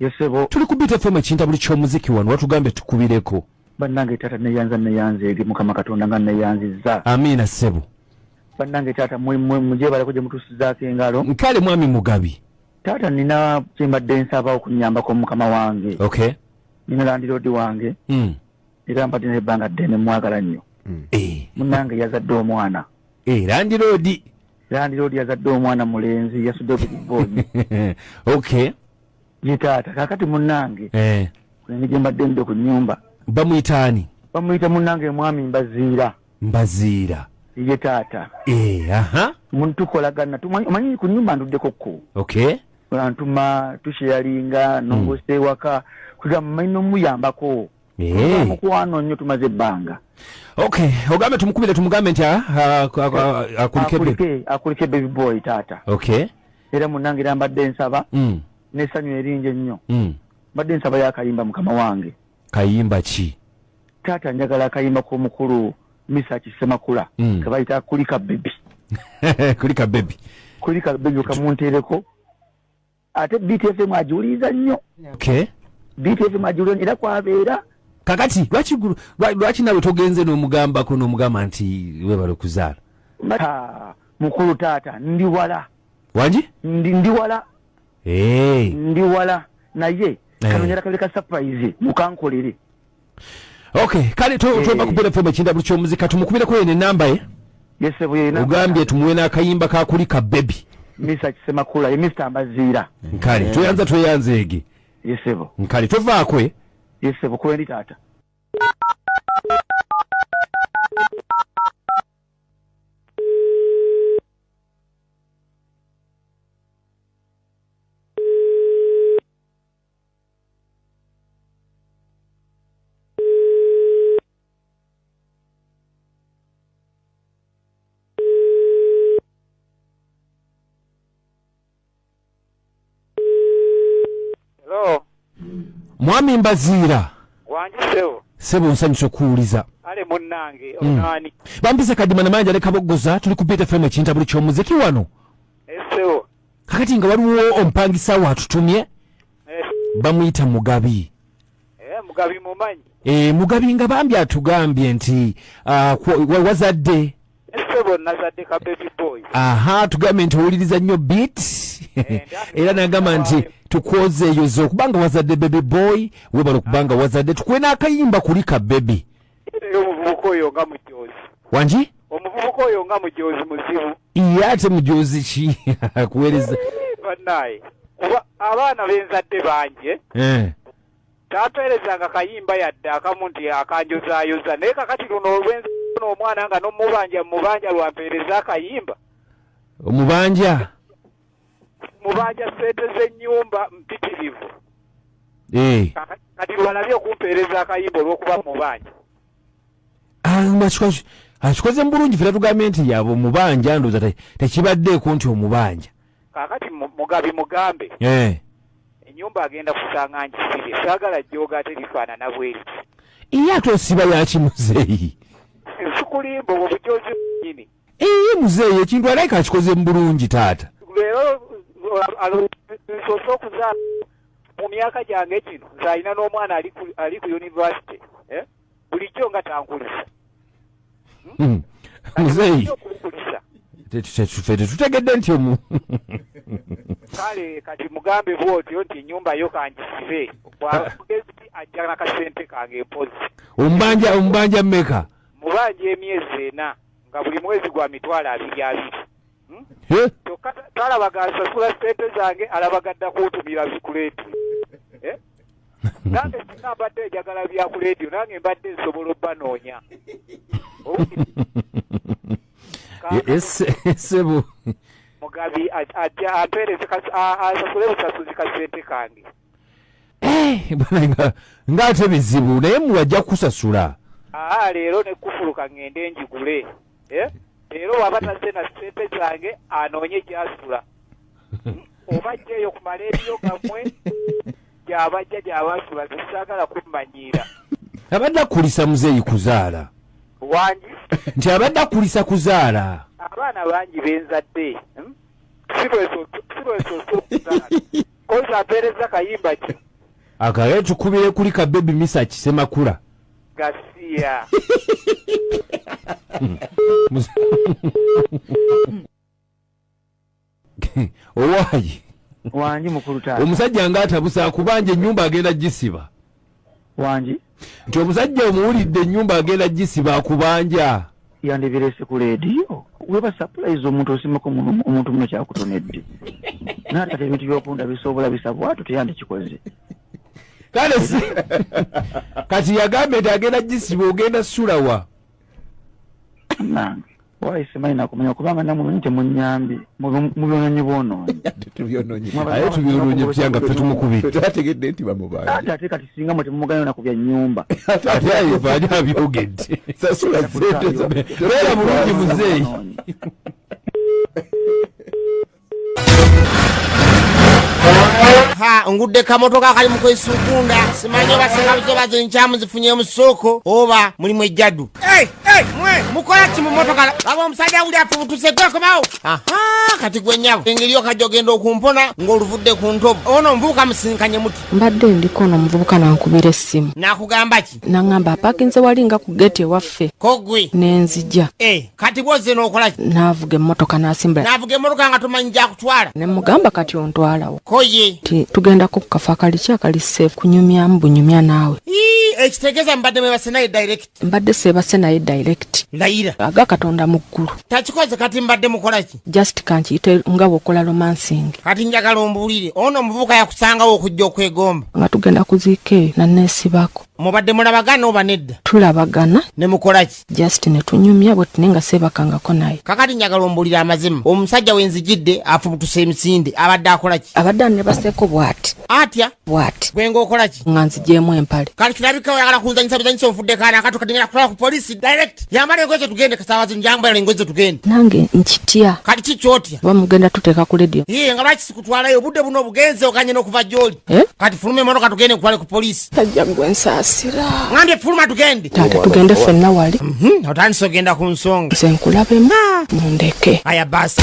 yesebo tuli ku beat fm ekinta buli kyomuziki wano watugambye tukubireko bannange taata neyanza neyanzeege mukama katonda nga neyanziza amiina ssebo bannange taata mujebaleko gye mutusizaako engalo nkale mwami mugabi taata nina kyembadde nsaba okunyambako mukama wange okay nina landiroodi wange mm. era mbadde naye ebbanga ddene mwagala nnyo hmm. eh. munange yazadde omwana eh, landiroodi landiroodi yazadde omwana mulenzi yasudde obugubooni ok ye taata kakati munange eh. kulenge gye mbadde nde ku nnyumba bamuyita ani bamuyita munange mwami mbaziira mbaziira ye taata aha tukolagana omanyi ku nnyumba nduddeko kko okay antuma tusheyalinga nongosa hmm. ewaka kugamba manyi nomuyambako Hey. Mukwano nnyo tumaze ebbanga. Okay, ogambe tumukubire tumugambe nti ah, ah, ah, akulike baby. Akulike baby boy tata. Okay. Era munange era mbadde nsaba. Mm. Ne sanyu erinje nnyo. Mm. Mbadde nsaba ya kayimba mukama wange. Kayimba ki? Tata njagala kayimba ko mukuru Misa Kisemakula. Mm. Kabaita kulika baby. kulika baby. Kulika baby kamuntereko. ate btfm agiwuliriza nnyo btfm agiwuliriza era kwabeera kakati lwaki lwaki nawe togenze n'omugambako n'omugamba nti webale okuzaala mukulu taata ndi wala wangi ndi wala ndi wala naye kanonyera kabiri ka surprise mukankolere okay kale to to bakubira fo machinda buli kyomuzika tumukubira ko ene namba ye yese buye ina ugambye tumwe na kayimba ka kuli ka baby misa kisema kula ye mr ambazira nkali yeah. tuyanza tuyanze ege yese bo nkali to vakwe yese bo kwendi tata mwami mbaziira wangi sebo sebo nsanyusa okuwuliza ale munnange hmm. onaani mm. bampise kadima namanja ne kaboggoza tuli ku btfm ekintabuli ky'omuziki wano kakati nga waliwo omupangisa wo atutumye eh. bamuyita mugabi eh, mugabi mumanyi e, mugabi nga bambi atugambye nti uh, wazadde aha tugambye nti owuliriza nnyo bit era nagamba nti tukwoza eyo zo kubanga wazadde baby boy webala okubanga wazadde tukuwe n'akayimba kuli ka bebi omuvubuka oyo nga mujoozi wangi omuvubuka oyo nga mujoozi muzibu ye ate mujoozi ki akuweereza banaye kuba abaana benzadde bangi eh? tapeerezanga kayimba yadde akamu nti akanjozaayoza naye kakati luno olwenzi n'omwana nga nomubanja mubanja lwampeereza akayimba omubanja mubanja sente z'ennyumba mpitirivu eh. kati lwalabye okumpeereza akayimba olw'okuba mubanja akikoze ah, mu bulungi fera tugambye nti yabo mubanja ndoza tekibaddeeko nti omubanja kakati mugabi mugambe eh. enyumba agenda kusanga njisibye saagala jjooga ate lifaanana bweriti iye ate osiba yakimuzeeyi sikulimba obwo bujozi nyini Eyi muzeeyi ekintu alaika akikoze mu bulungi taata. Leero nsoose okuzaala mu myaka gyange gino nze alina n'omwana ali ku yunivasite eh? bulijjo nga tankulisa. Hmm? Hmm. Muzeeyi fe tetutegedde nti omu. Kale kati mugambe bw'otyo nti ennyumba yo kangisibe bwamugezi ajja nakasente kange mpozi. Ombanja ombanja mmeka? Mubanja emyezi ena. nga buli mwezi gwa mitwalo abiri abiri hmm? kyokka talabaga nsasula sente zange alabaga dda kuntumira bikuleeti eh? nange singa mbadde enjagala bya ku leediyo nange mbadde nsobola obanoonya esebo mugabi ajja ampeereze asasule busasuzi kasente kange eh, nga ate bizibu naye muwajja kusasula aa leero nekufuluka ngende njigule eh, leero waba tazze na sente zange anoonye gyasula hmm, oba jjeeyo kumala ebiyo gamwe gyabajja gyabasula zisagala kummanyiira abadde akulisa muzeeyi kuzaala wangi nti abadde akulisa kuzaala abaana bangi benzadde hmm? kozi apereza kayimba ki akagale tukubire kuli ka baby misa kisemakula gasiya owayi wangi mukulu taata omusajja nga atabusa kubanja enyumba agenda gisiba wangi nti omusajja omuwulidde ennyumba agenda gisiba kubanja yandibirese ku leediyo weba sapulayizi omuntu osimako omuntu muno kyakutonedde naate ate ebintu byokunda bisobola bisabwatu teyandikikoze kale si kati yagambye nti agenda gisiba ogenda sulawa nange Why simanyi nakumanya kubanga namwe manyi temunyambi mubyononyi bwonoonyi tubyononyi aye tubyononyi tutya nga ffe tumukubira twategedde nti bamubanja ate ate kati singa mwe temumuganya na ku bya nnyumba ate ayo vaani abyogedde sasula sente beera bulungi muzeeyi ha ngudde kamotoka akali mu kwesukunda simanyi oba sekabuzo bazo enkyamu zifunye mu ssooko oba mulimu ejjadu mukola ki mu motoka aba omusajja wuli afubutuse gwekomawo kati gwe nyabo engeri okajja ogenda okumpona ng'oluvudde ku ntobo ono omuvubuka musinkanye muti mbadde ndiko ono omuvubuka nankubira essimu nakugamba ki naŋamba apakinze wali nga ku geti ewaffe kogwi nenzija eh, kati bwoze nokola navuga emmotoka nasimbula navuga emmotoka nga tomanyi jakutwala nemugamba kati ontwalawo koye ti tugendako ku kafa kali ki akali safe kunyumyamu bunyumya naawe ekitegeza mbadde mwebase naye direct mbadde sebase naye direct layira aga katonda mu ggulu takikoze kati mbadde mukolaki just kankiyite nga bwokola romancing kati njagala ombuulire ono omuvubuka yakusangawo okujja okwegomba nga tugenda kuziika eyo naneesibako mubadde mulabagana oba nedda tulabagana ne mukolaki just ne tunyumya bweti naye nga seebakangako naye kakati njagala ombuulire amazima omusajja wenzijidde afubutuse emisinde abadde akolaki abadde anebaseeko bwati atya What? Gwe ng'okola ki? Nga nzigyemu empale. Kati kirabika oyagala kunzanyisa buzanyisa onfudde kaana akatu kati ngenda kutwala ku poliisi direct. Yambala engoye ze tugende kasaawa zino njambala engoye ze tugende. Nange nkitya. Kati ki kyotya? Oba mugenda tuteeka ku leediyo. Yee nga lwaki sikutwalayo obudde buno obugenze oganye n'okuva gy'oli. Eh? Kati fuluma emmotoka tugende nkutwale ku poliisi. Tajja gwe nsaasira. Ngambye fuluma tugende. Taata tugende ffenna wali. Mhm, otandise ogenda ku nsonga. Nze nkulabemu. Ah. Mundeke. Aya basi.